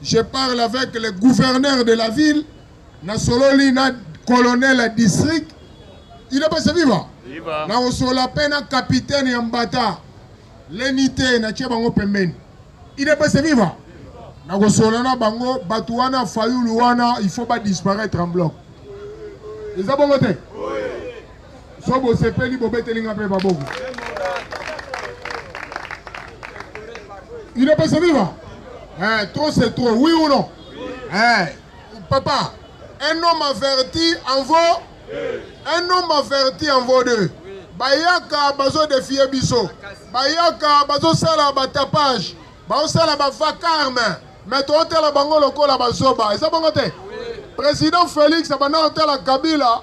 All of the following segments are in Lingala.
Je parle avec le gouverneur de la ville, na sololi na colonel ya district. Il est passé vivant. Viva. Na osola pe na capitaine ya Mbata. Lenite na tie bango pembeni. Il est passé vivant. Na kosola na bango batu wana fayulu wana il faut ba disparaître en bloc. Eza bongo te? Oui. So bosepeli bobeteli nga mpe maboko. Inapesa viva? Eh, trop c'est trop, oui ou non? Eh, papa, un homme averti en vaut un homme averti en vaut deux. Bayaka bazo défier biso. Bayaka bazo sala ba tapage, bazo sala ba vacarme. Mais to tela bango lokola bazoba. Eza bango te. Président Félix abanda tela Kabila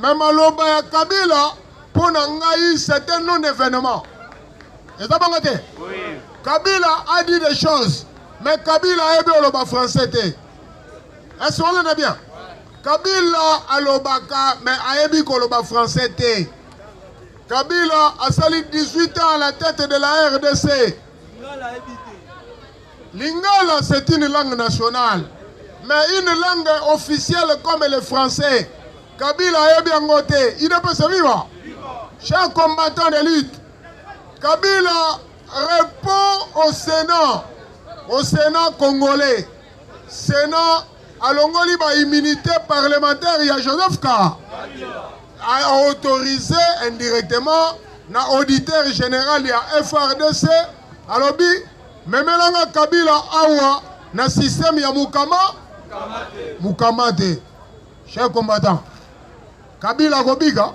Mais maloba ya Kabila mpo na ngai c'est un non événement. Eza bongo te? Oui. Kabila a dit des choses mais Kabila ayebi oloba français te. Est-ce qu'on est bien? Kabila alobaka mais ayebi koloba français te. Kabila asali 18 ans à la tête de la RDC. Lingala c'est une langue nationale mais une langue officielle comme le français Kabila ayebi yango te idepese viva chers combattants de lutte Kabila répond au Sénat au Sénat congolais Sénat alongoli ba immunité parlementaire ya Joseph Ka a autorisé indirectement na auditeur général ya FRDC alobi Memela nga Kabila awa na système ya mukama mukama te. Cher combattant, Kabila akobika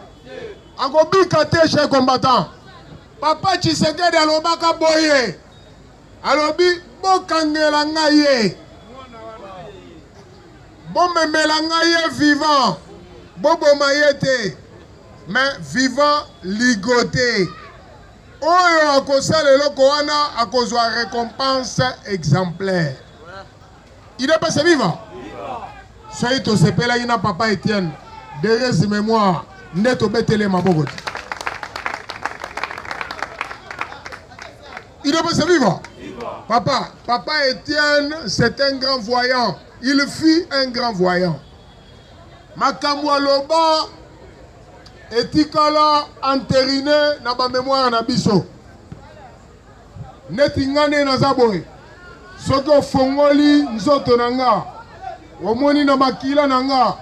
akobika te. Cher combattant, papa Tshisekedi alobaka boye, alobi bokangela nga ye, bomemela nga ye vivant, boboma ye te, mais vivant ligote Oyo akosala eloko wana akozwa recompense exemplaire. Il est passé vivant. Soki tosepelaki na papa Etienne, deresi memoire nde tobetele maboko te. Il est passé vivant. Papa, papa Etienne, c'est un grand voyant. Il fut un grand voyant. Makambo aloba etikala enterine na ba memoire na biso. Neti nga nde naza boye, soki ofongoli nzoto na nga, omoni na makila na nga,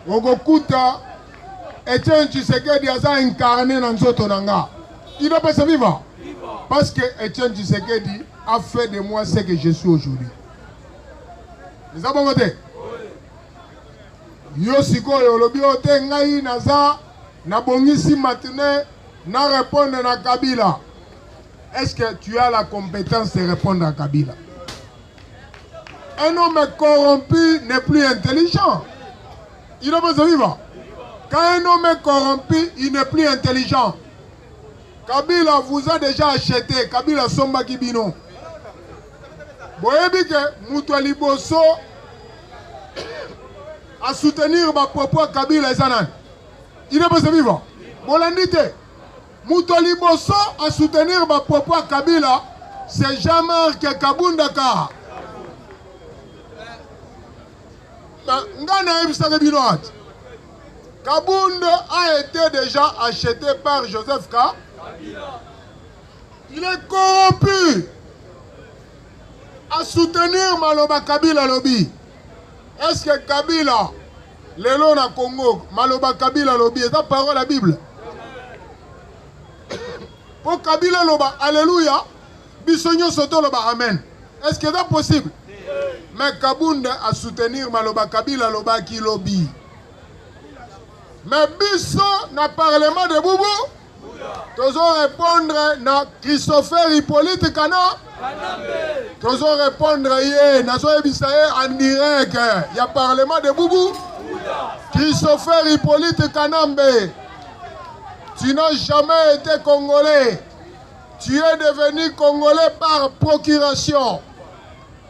okokuta Etienne Tshisekedi aza incarne na nzoto na nga. Il doit pas se vivre. Parce que Etienne Tshisekedi a fait de moi ce que je suis aujourd'hui. Eza bongo te? Yo sikoyo olobi oyo te, ngai naza nabongisi matinee na repondre na Kabila. Est-ce que tu as la compétence de répondre à Kabila? Un homme corrompu n'est plus intelligent. Il a besoin de vivre. Quand un homme est corrompu, il n'est plus intelligent. Kabila vous a déjà acheté. Kabila Somba Kibino. boyebi ke moto ya liboso a soutenir ba propos ya kabila eza nani il est pas vivant bolandi te moto ya liboso a soutenir ba propos ya kabila c'est jean marc kabunda kara ngai nayebisaki bino ati kabund a été déjà acheté par joseph ka Il est corrompu. A soutenir maloba Kabila lobi. Est-ce que Kabila lelo na Congo maloba Kabila lobi eza parole ya Bible? Mpo Kabila loba alléluia, biso nyonso toloba amen. Est-ce que eza possible? Mais Kabunda a soutenir maloba Kabila lobaki lobi. Mais biso na parlement de Boubou tozo répondre na Christopher Hippolyte Kana tozo répondre ye nazo yebisa ye en direct ya parlement de Boubou Christopher Hippolyte Kanambe tu n'as jamais été congolais tu es devenu congolais par procuration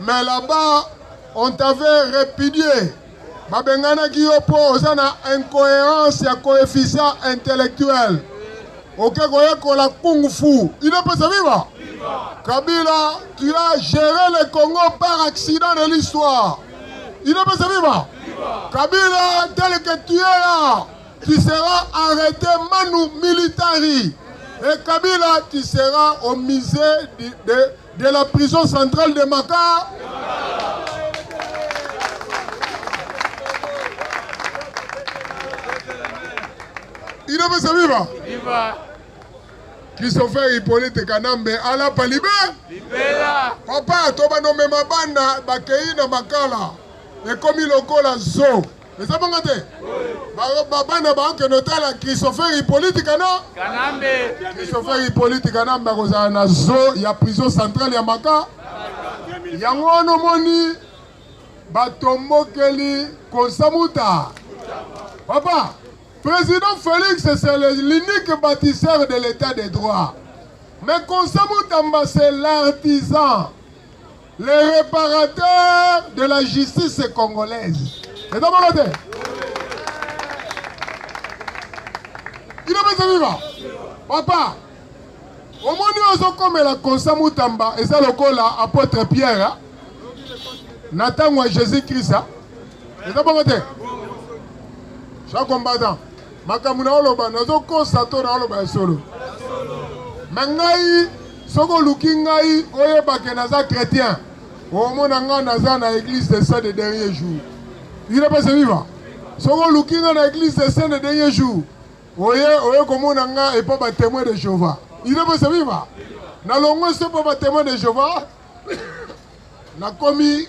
Mais là-bas, on t'avait répudié. babenganaki yo mpo oza na incohérence ya coefficient intellectuel oke koyekola kung fu inapesa viva kabila tu as géré le congo par accident de l'histoire inapesa viva kabila tel que tu es là tu seras arrêté manu militari et kabila tu seras au musée de de la prison centrale de Makala. Il a fait viva. Viva. Christopher Hippolyte Kanambe ala palibe. Libela. Papa toba nomema bana bakei na makala ekomi lokola zoo. Eza bongo te? Ba bana ba kende otala Christopher Hippolyte Kana. Kanambe. Christopher Hippolyte Kanambe akozala na zoo ya prison centrale ya Maka. Yango wana omoni batombokeli konsamuta. Papa, président Félix c'est l'unique bâtisseur de l'état de droit. Mais konsamuta mba c'est l'artisan. le reparateur de la justice congolaise eza bongo te ino pesa viva papa omoni ozokomela konsa mutamba eza lokola apotre pierre na ntango ya jésus krist eza bongo te jean combattant makambo na oloba nazokosa to na oloba ya solo me ngai Soki oluki ngai oyeba ke naza chretien, omona ngai naza na eglise de saint de dernier jour. Udps viva! Soki oluki ngai na eglise de saint de dernier jour, oye oye komona ngai epa ba temoin de Jehovah. Udps viva! Nalongwe se epa ba temoin de Jehovah, nakomi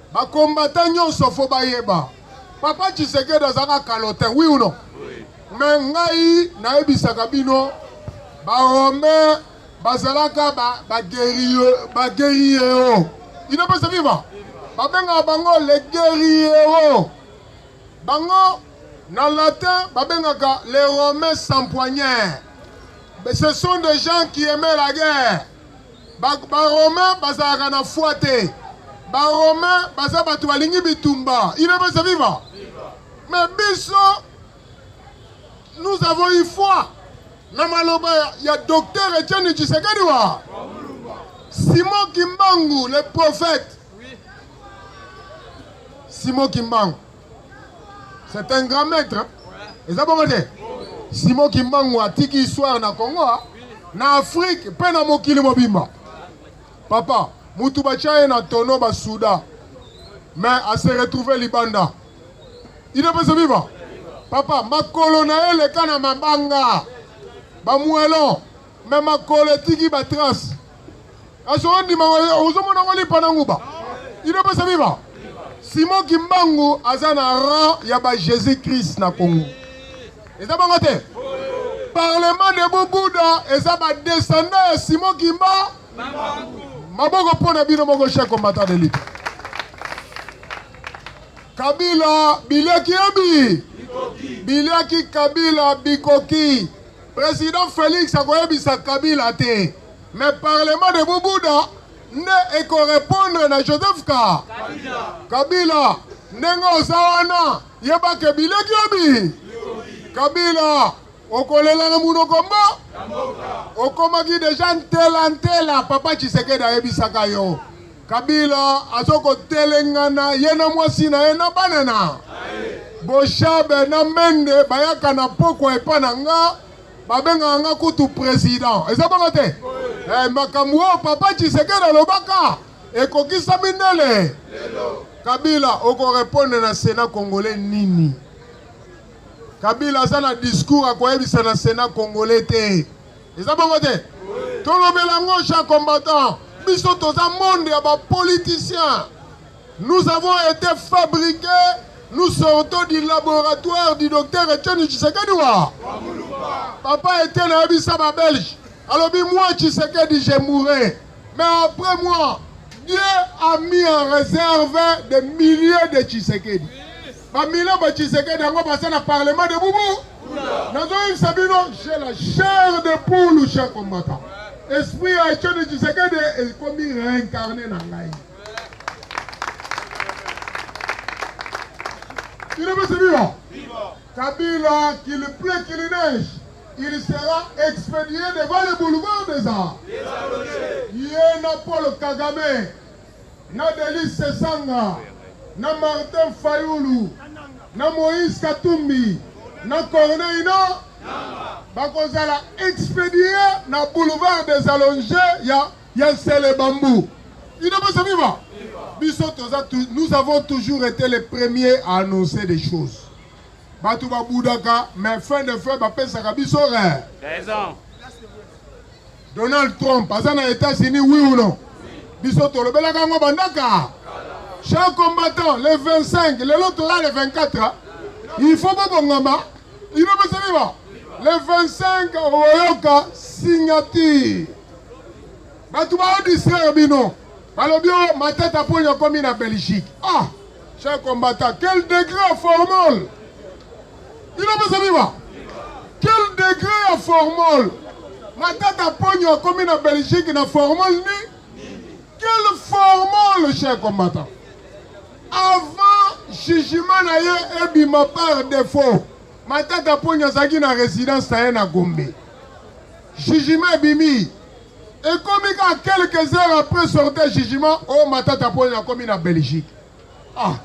Ba combattants nionso faut bayeba papa Tshisekedi azalaka calotin oui ou non? Mais ngai nayebisaka bino ba Romain bazalaka ba ba guerrier ba guerriero il ne peut se vivre babengaka bango le guerriero bango na latin babengaka les romains sans poignard ce sont des gens qui aimaient la guerre Ba-Romain bazalaka na foi te. Ba-Romain baza bato balingi bitumba. Il est pas viva. Mais biso, nous avons eu foi na maloba ya docteur Etienne Tshisekedi wa Simon Kimbangu, le prophète. Simon Kimbangu. C'est un grand maître. Hein? eza bongo te simo kimbangu atiki histoire na congo ah. na afrike mpe na mokili mobimba papa mutu batya ye na tono basuda mais ase retrouve libanda idepese viva papa makolo na ye eleka na mabanga bamuelon Mais makolo etiki ba trace. Aso ondima ozomona ngo lipa na nguba. Ino pesa biba. Simon Kimbangu aza na rang ya ba Jésus Christ na Congo. Eza bango te. Parlement de Bobuda eza ba descendants ya Simon Kimba. Maboko mpo na bino moko chef combattant de lutte. Kabila biliaki yebi. Biliaki Kabila bikoki. President Felix akoyebisa Kabila te mais parlement de Bubuda nde ekorepondre na Joseph ka Kabila, Kabila. ndenge oza wana yebake bileki obi kabila okolela na monoko mbo okomaki deja ntela ntela papa tshisekedi ayebisaka yo Kabila azo ko telengana ye na mwasi na ye na bana na Boshabe na Mende bayaka na pokwa epa na nga babengaka nga kutu president eza bongo te eh, makambo oyo papa Tshisekedi alobaka ekokisami ndele Kabila okorepondre na sena congolais nini? Kabila aza na discours akoyebisa na sena congolais te. eza bongo te tolobela yango jean combattant biso toza monde ya bapoliticien nous avons été fabriqué nous sortons du laboratoire du docteur etienne tshisekedi wa papa etienne ayebisa babelge alobi moi tshisekedi je mourrai mais après moi dieu a mis en réserve des milliers de tshisekedi Ba mila ba Tshisekedi yango baza na parlement de boubou. Nazoyebisa bino j'ai la chair de poule cher combattant. Esprit ya Etienne Tshisekedi ekomi réincarné na ngai. Bino bese biwa. Kabila qu'il pleut qu'il neige, il sera expédié devant le boulevard des arts. Ye na Paul Kagame na Delice Sesanga, na Martin Fayulu, na Moïse Katumbi, na Corneille na bakozala expedie na boulevard des Allonges ya ya Nsele Bambu. Inabasa viva biso toza nous avons toujours été les premiers à annoncer des choses bato babudaka mais fin de fin bapesaka biso raison Donald Trump aza na Etats-Unis oui ou non? Biso tolobelaka yango bandaka. Chers combattants, le 25, lelo toza le 24, il faut bobongama. Il faut bosaliba. Le 25 oyoka signature. Bato bao distraire bino. Balobi o Matata Pony akomi na Belgique. Ah, chers combattants, quel degré formal! Bino pesa biwa. Quel degré ya formol? Matata Ponyo akomi na Belgique na formol ni? Quel formol, cher combattant? Avant jugement na ye ebima par défaut, Matata Ponyo azalaki na résidence na ye na Gombe. Jugement ebimi ekomi kaka quelques heures après sortie ya jugement, oyo oh, Matata Ponyo akomi na Belgique. Ah,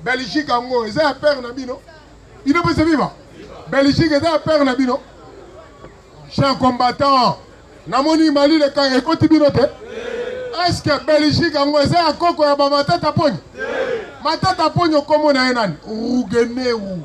Belgique yango eza ya père na bino. Bino pe se viva. Belgique eza ya père na bino. Chers combattants, namoni Mali le kan ekoti bino te. Est-ce que Belgique yango eza ya koko ya ba matata poni? Matata poni okomo na ye nani? Rugeneu.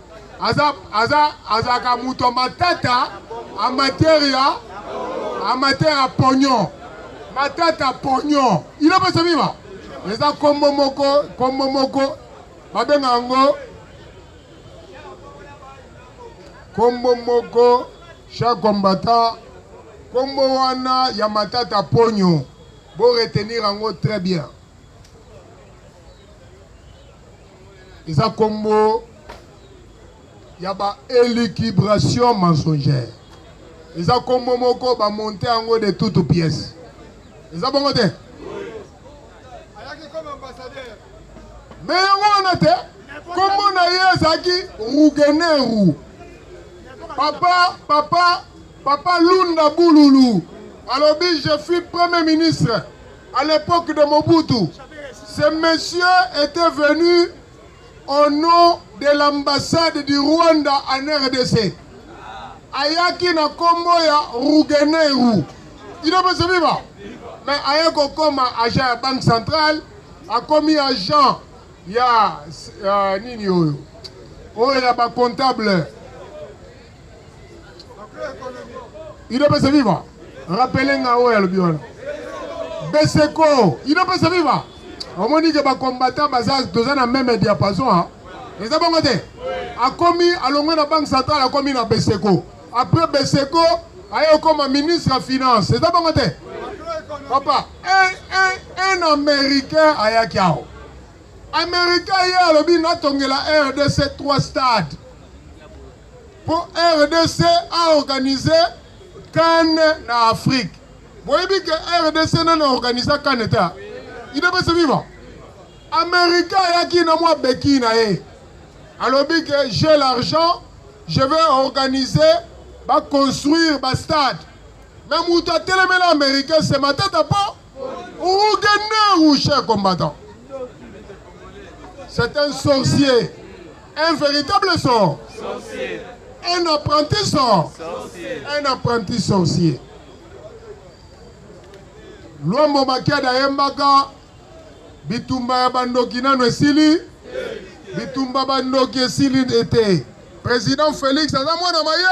aza aza azalaka moto ya matata amateur ya amateur ya pognon matata pognon ino pesa biba eza nkombo moko nkombo moko babenga yango nkombo moko cher combattant nkombo wana ya matata pognon bo retenir yango très bien eza kombo ya ba élucubration mensongère eza kombo moko ba monte yango de toute pièce eza bongo te me yango wana te kombo na ye ezalaki rugeneru papa papa Papa Lunda Bululu alobi je fus premier ministre à l'époque de Mobutu. Ce monsieur était venu au nom de l'ambassade du Rwanda en RDC. Ayaki na kombo ya Rugeneru. Ino pesa viva. Mais aye kokoma agent ya banque centrale, akomi agent ya uh, nini oyo oyo ya ba comptable Ido pese viva. Rappelez nga oyo alobi wana. Beseko, Ido pese viva. Omoni ke ba combattants baza toza na meme diapason ha. Eza bongo te. Akomi alongwe na banque centrale akomi na Beseko. Après Beseko aye koma ministre ya finance. Eza bongo te. Papa, un, un, un américain ayaki awa. Américain ye alobi natongela RDC 3 stade. Mpo rdc a organise can na Afrique. Boyebi ke rdc nani organisa can te? Il est pas vivant. Amerika ayaki na mwa beki na ye alobi ke j'ai l'argent je vais organiser baconstruire bastade me moto atelemela americain se matata mpo Ougandais ou cher combattant C'est un sorcier. Un véritable sort. Sorcier. Un apprenti sort. Sorcier. Un apprenti sorcier. Luambo Makiada Yembaka, bitumba ya bandoki nano esili, bitumba bandoki esili ete. President Felix aza mwana maye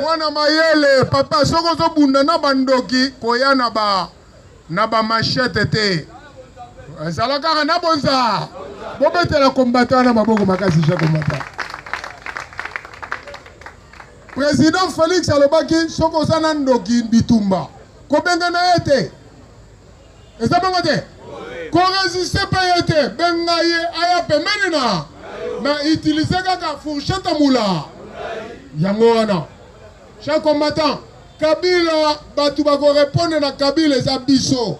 mwana mayele papa, soki ozobunda na bandoki koya na ba na ba machete te, ezala kaka na bonza bobetela kombata na maboko makasi je kombata. President Felix alobaki soki oza na ndoki bitumba kobenga na ye te. eza bongo te koresiste mpe ye te benga ye aya pembeni na na utilise kaka fourchette mula yango wana cher combattant kabila bato bakorepondre na kabila eza biso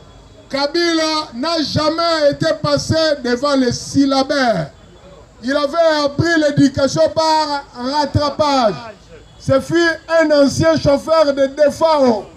kabila n'a jamais été passé devant les syllabaires il avait appris l'éducation par rattrapage ce fut un ancien chauffeur de defao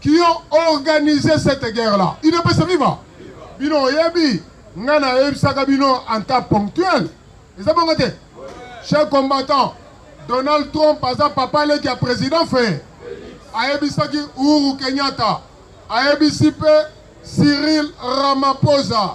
qui ont organise cette guerre là udps viva bino oyebi ngai nayebisaka bino en cas ponctuel eza bongo te cher combattant donald trump aza papa leki ya président fee ayebisaki uhuru kenyatta ayebisi mpe cyril ramaphosa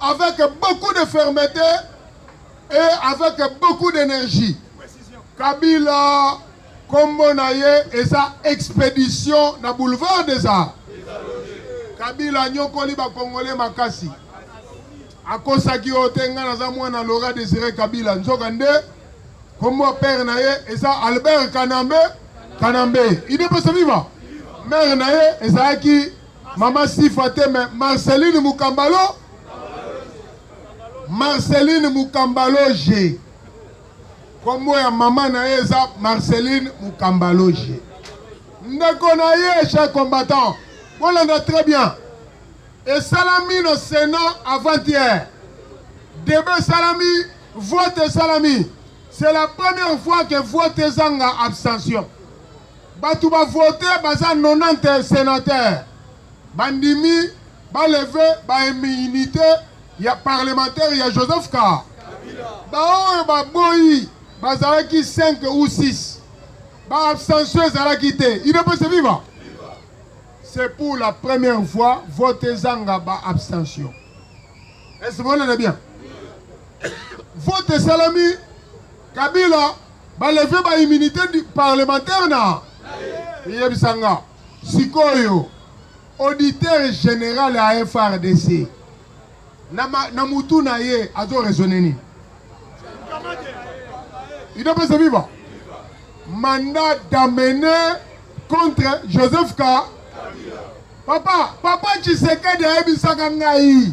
avec beaucoup de fermeté et avec beaucoup d'énergie. Kabila, kombo na ye eza expédition na boulevard des arts. Kabila anyokoli bakongole makasi akosaki oyo te ngai naza mwana lora desire kabila nzoka nde kombo père na ye eza albert kanambe kanambe idepesa viva mare na ye ezalaki Maman Sifa te mais Marceline Mukambalo Marceline Mukambaloge kombo ya mama na ye eza Marceline Mukambaloge ndeko na ye cher combattant bolanda très bien esalami na Sénat avant-hier debe esalami vote esalami c'est la première fois que vote ezanga abstention Batu ba vote baza 90 senateurs bandimi ba leve ba immunité ya parlementaire ya Joseph Ka. Baoyo baboyi bazalaki 5 ou 6 ba abstention ezalaki te idps viva c'est pour la première fois vote ezanga ba abstention est ce que vous bien Vote esalami Kabila baleve ba immunité parlementaire na eyebisa nga sikoyo auditeur général ya FRDC na, na mutu na ye azo raisonne nini idopesa viva mandat d'amener contre Joseph Ka papa papa Tshisekedi ayebisaka ngai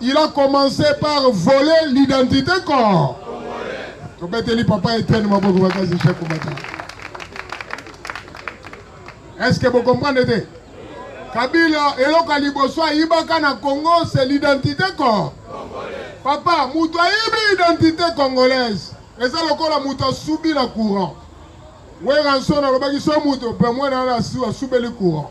Il a commencé par voler l'identité corps. Tobeteli papa Etienne maboko bakazi chef komata. Est-ce que vous comprenez Kabila eloko ya liboso ayibaka na Congo c'est l'identité corps. Papa moto ayibi identité congolaise eza lokola moto asubi na courant. Weranson alobaki so moto pe mwana asubeli courant.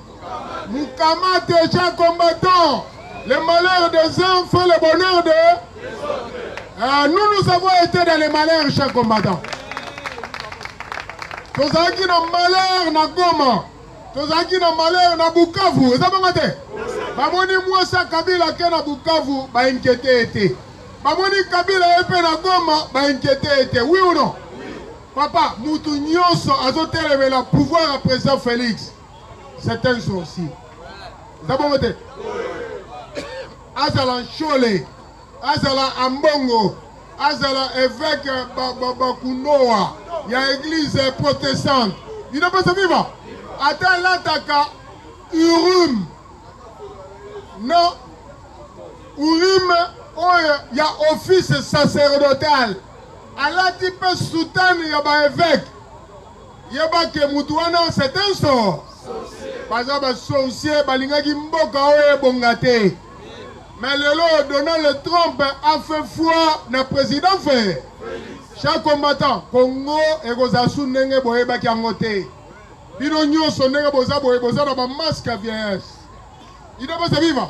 Mukamate cha combattant. Le malheur des uns fait le bonheur de... Euh, nous, nous avons été dans les malheurs, chers combattants. tozalaki na malheur na goma tozalaki na malheur na bukavu eza bongo te bamoni mwasi ya kabila ake na bukavu bainkiete ye te bamoni kabila ye mpe na goma bainkiete ye te wi uno papa mutu nyonso azotelemela pouvoir ya president félix c'est un sorcier eza bongo te azala nshole azala ambongo azala évêque bakunoa ya église protestante bino mposa viva ata alataka urume na urime oyo ya office sacerdotal alati mpe sutane ya baevêque Yeba ke mutu wana c'est un sort. Baza ba sorcier balingaki mboka oyo ebonga te. Mais lelo Donald Trump a fait foi na président Ferre. Chaque combattant Congo ekozala su ndenge boyebaki yango te. Bino nyonso ndenge boza boye boza na ba masque ya vieillesse. Ida boza viva.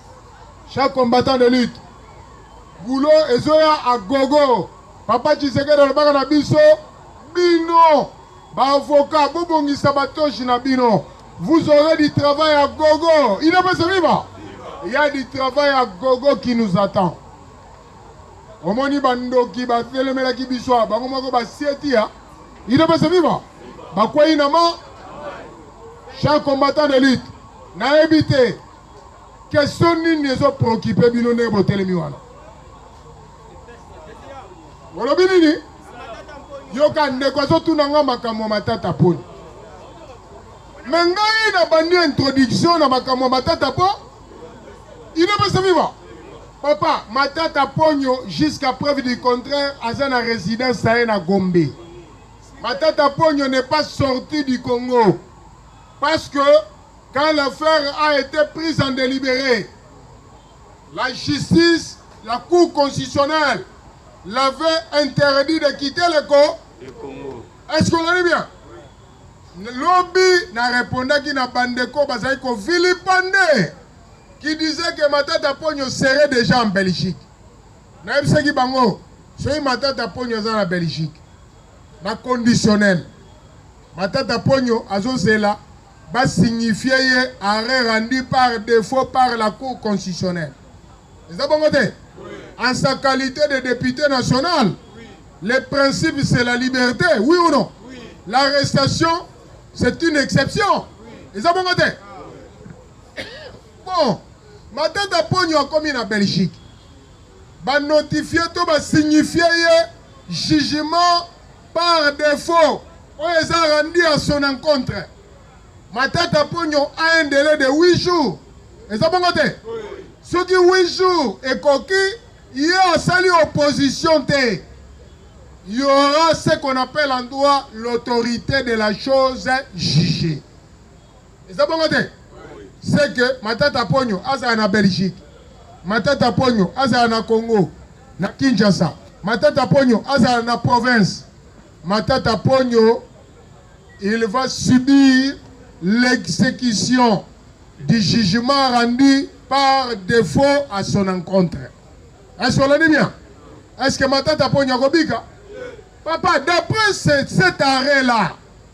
Chaque combattant de lutte boulot ezoya a gogo. Papa Tshisekedi alobaka na biso bino ba avocat bobongisa batoshi na bino vous aurez du travail à gogo. Il est passé viva. Il y a du travail à gogo qui nous attend. omoni bandoki batelemelaki biso bango moko basieti ya il est passé viva bakwei na ma chaque combattant de lutte nayebi te Question nini ezo preoccupe bino ndenge botelemi wana? Olobi nini? Yoka ndeko azotuna nga makambo ya matata poni. Me ngai na bandi introduction na makambo ya matata po ino pesa viva papa matata ponyo jusqu'à preuve du contraire aza na résidence na ye na Gombe. Matata ponyo n'est pas sorti du Congo parce que Quand l'affaire a ete prise en delibere, la justice, la cour constitutionnelle l'avait interdit de quitter le co Le Congo. Est-ce qu'on est bien? Lobi na repondaki na bandeko bazali ko vilipande qui disait que Matata Ponyo serait déjà en Belgique. nayebisaki bango soki matata ponyo aza na belgique na conditionnel matata ponyo azozela ba signifier ye arrêt rendu par defaut par la cour constitutionnelle eza bongo te en sa qualité de député national le principe c'est la liberté oui ou non l'arrestation c'est une exception eza bongo te bon matata ponyo akomi na belgique banotifie to basignifie ye jugement Par defaut, oyo eza rendu à son encontre. Matata Ponyo a un délai de 8 jours. Eza bongo te? Soki 8 jours ekoki, ye asali opposition te. Il y aura ce qu'on appelle en droit l'autorité de la chose jugée. eza bongo te c'est que matata ponyo azala na belgique matata ponyo azala na congo na kinshasa matata ponyo azala na province matata ponyo il va subir l'exécution du jugement rendu par défaut à son encontre est-ce qu'on dit bien est-ce que matata ponyo akobika papa d'après cet arrêt là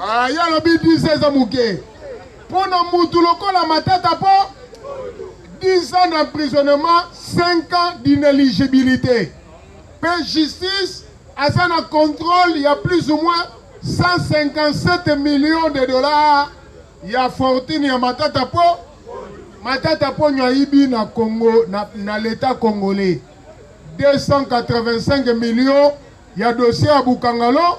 Ah, ye alobi 10 ans eza moke mpo na mutu lokola matata mpo 10 ans d'emprisonnement 5 ans d'inéligibilité mpe justice aza na contrôle ya plus ou moins 157 millions de dollars ya fortune ya matata mpo matata mponyo ayibi na congo na, na leta congolais 285 millions ya dossier ya bukangalo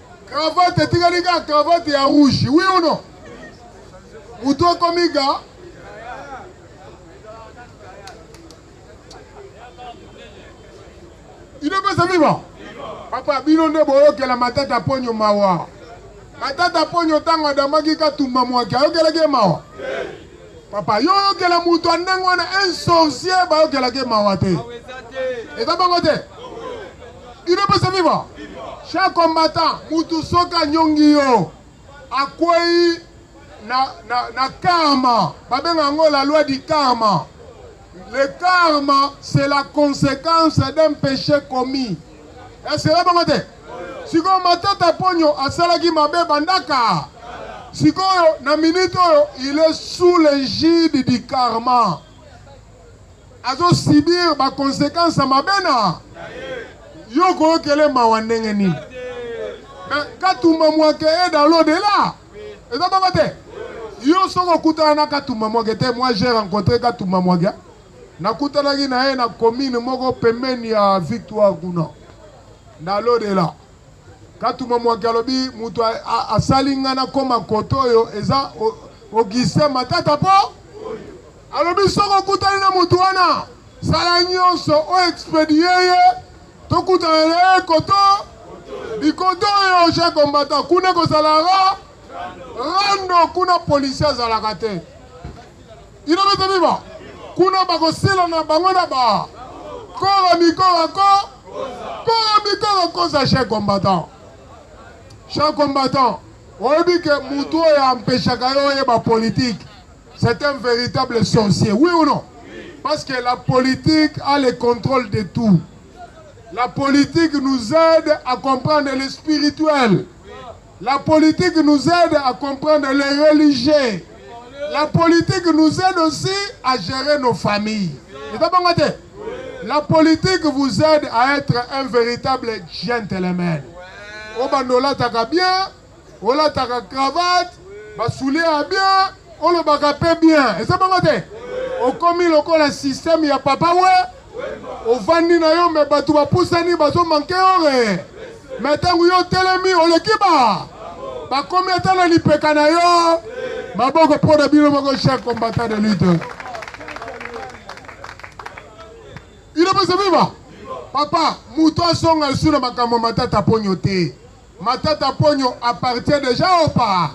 Cravate etikali kaka cravate ya rouge, oui ou non? Mutu akomi ga inopesa viva papa, bino nde boyokela matata ponyo mawa. Matata ponyo ntango adamaki katumba mwaki ayokelaki ye mawa? Papa yo oyokela moto ya ndenge wana un sorcier bayokelaka ye mawa te eza bongo te il est possible vivre chaque combattant mutu soki anyongi yo akwei na, na, na karma babenga yango la loi du karma le karma c'est la conséquence d'un péché commis esela bango te Sikoyo Matata Ponyo asalaki mabe bandaka. Sikoyo na minute oyo il est sous l'égide du karma. Azo subir ba conséquences mabe na yo koyokele mawa ndenge nini? Mais Katumba Mwake est dans l'au-delà. Eza bongo te? Yo soko okutana na Katumba Mwake te, moi j'ai rencontré Katumba Mwake. Nakutanaki na ye na commune moko pembeni ya Victoire kuna. Na l'au-dela. Katumwa Mwaki alobi mutu asali nga na koma kote oyo eza Augustin Matata po alobi soki okutani na mutu wana sala nionso o expedier ye tokutana na ye koto bikoto oyo je combattant kuna ekozala ra rando kuna policier azalaka te. Inobeta biba kuna bakosila na bango na ba kora mikora ko kora mikora koza chef combattant chef combattant oyebi ke mutu oyo ampeshaka yo oyeba politique c'est un véritable sorcier oui ou non parce que la politique a le contrôle de tout la politique nous aide à comprendre le spirituel La politique nous aide à comprendre les religieux. La politique nous aide aussi à gérer nos familles. La politique vous aide à être un véritable gentleman. Obanda olataka bien, olataka cravate, basoulie ya bien, olobaka mpe bien. Eza bongo te? Okomi lokola système ya papa we ovandi na yo me bato bapusani bazo manke ore me ntango yo otelemi oleki ba bakomi ata na lipeka na yo maboko mpo na bino moko chef combattant de lutte ino pesa viva papa moto azonga lisu na makambo matata ponyo te matata ponyo appartient déjà au pas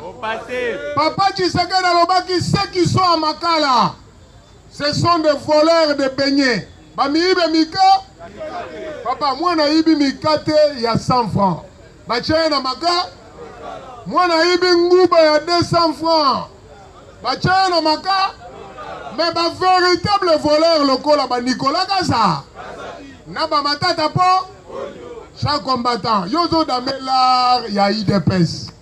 papa tshisekedi alobaki ce qui soit makala Ce sont des voleurs de beignets. Ba miibe mika. Papa, mwana ayibi mikate ya 100 francs. Batya ye na maka. Mwana ayibi nguba ya 200 francs. Batya ye na maka. Mais ba véritable voleur lokola ba Nicolas Kaza. Na ba matata po. Chaque combattant. Yozo dame l'art ya IDPS.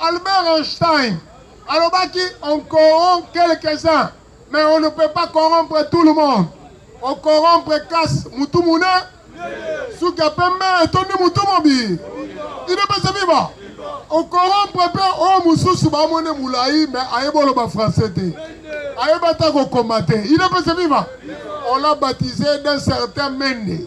Albert Einstein alobaki on corrompt quelques-uns mais on ne peut pas corrompre tout le monde. On corrompre kas mutu mune suka pembe etondi mutu mobi idepese viva on corrompre mpe oyo mosusu bamone molai mais ayeba oloba français te ayeba ata kokoma te idepese viva on l'a baptisé d'un certain mende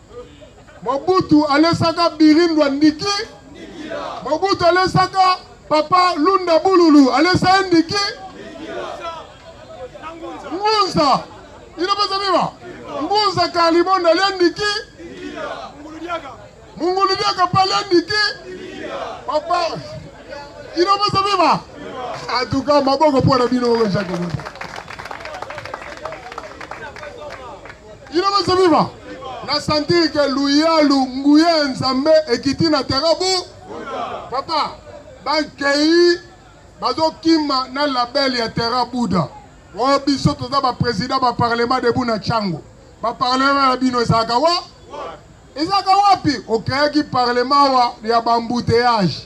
Mobutu alesaka Birindwa ndiki. Mobutu alesaka Papa Lunda Bululu alesa ye ndiki. Ngunza ino pesa biba Ngunza Kalibonda alia ndiki. Mungulu diaka pa alia ndiki. Papa ino pesa biba atuka maboko mpo na bino oyo Jacques Ina bazo viva. Na sentir que luyalu nguya ya Nzambe ekiti na terrain bu. Papa, bakei bazokima na label ya terrain Buda. Oyo biso toza ba président ba parlement debout na Chango. Ba parlement ya bino ezalaka wa? Ezalaka wapi? Okreaki parlement wa ya ba embouteillages.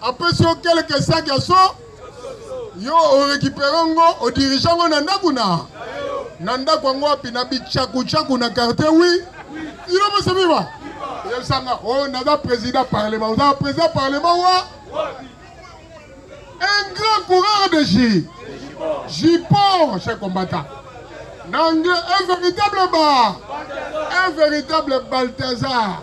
apesi yo kelke saki ya so yo orekipere ngo odirige ngo na ndako na na ndako yango wapi na bichakuchaku na quartier wi ino mosamiwa yebisanga o oh, naza président parlement oza président parlement wa un grand coureur de ji jipon cher combattant na anglais un véritable ba un véritable balthazar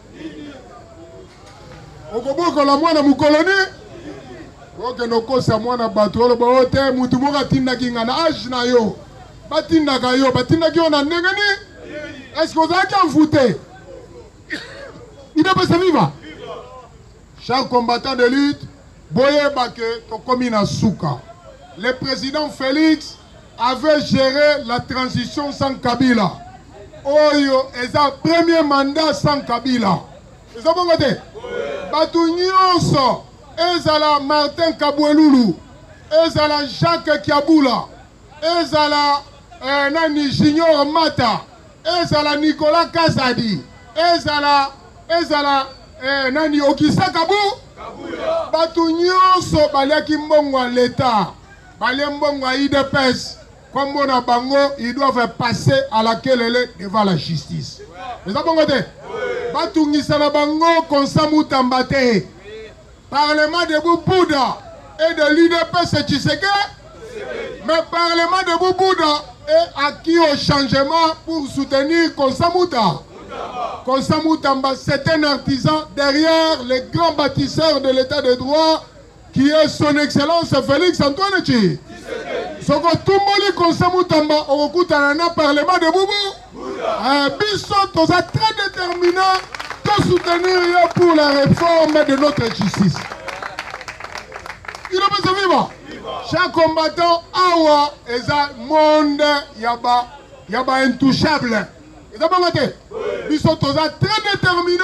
okobokola mwana mokolo nini okende okosa mwana bato oloba oyo te motu moko atindaki ngai na age na yo batindaka yo batindaki yo na ndenge nini eske ozalaki envoute idepesa viva cher combattant de lutte boyeba ke tokomi na suka le président félix avait géré la transition sans Kabila oyo eza premier mandat sans Kabila eza bongo te bato nyonso ezala Martin Kabwelulu ezala Jacques Kiabula ezala eh, nani Junior Mata ezala Nicolas Kazadi ezala ezala eh, nani Okisa Kabu bato nyonso baliaki mbongo ya leta Balie mbongo ya udps kombo na bango ils doivent passer à la kelele devant la justice. Eza bongo te? Batungisa na bango konsa mutamba te. Parlement debout Bouddha et de l'UDPS Tshiseke. Mais Parlement debout Bouddha est acquis au changement pour soutenir Konsamuta. Konsamutamba, c'est un artisan derrière les grands bâtisseurs de l'état de droit qui est son excellence Felix Antoine Tshi soko tumboli conseil mutamba okokutana na parlement de bubu eh, biso toza très déterminé to soutenir yo pour la réforme de notre justice ino biso viva chaque combattant awa eza monde ya ba ya ba intouchable eza bongo te biso toza très déterminé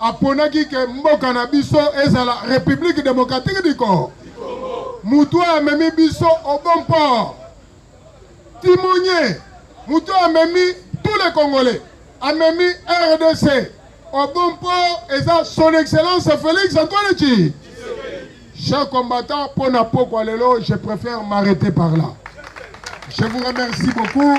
aponaki ke mboka na biso ezala Republique Democratique du Congo. Mutu oyo amemi biso au bon port, timonier, mutu oyo amemi tous les Congolais, amemi RDC au bon port eza son excellence Felix Antoine Tshi. Chers combattants, pona pokwa lelo, je préfère m'arrêter par là. Je vous remercie beaucoup.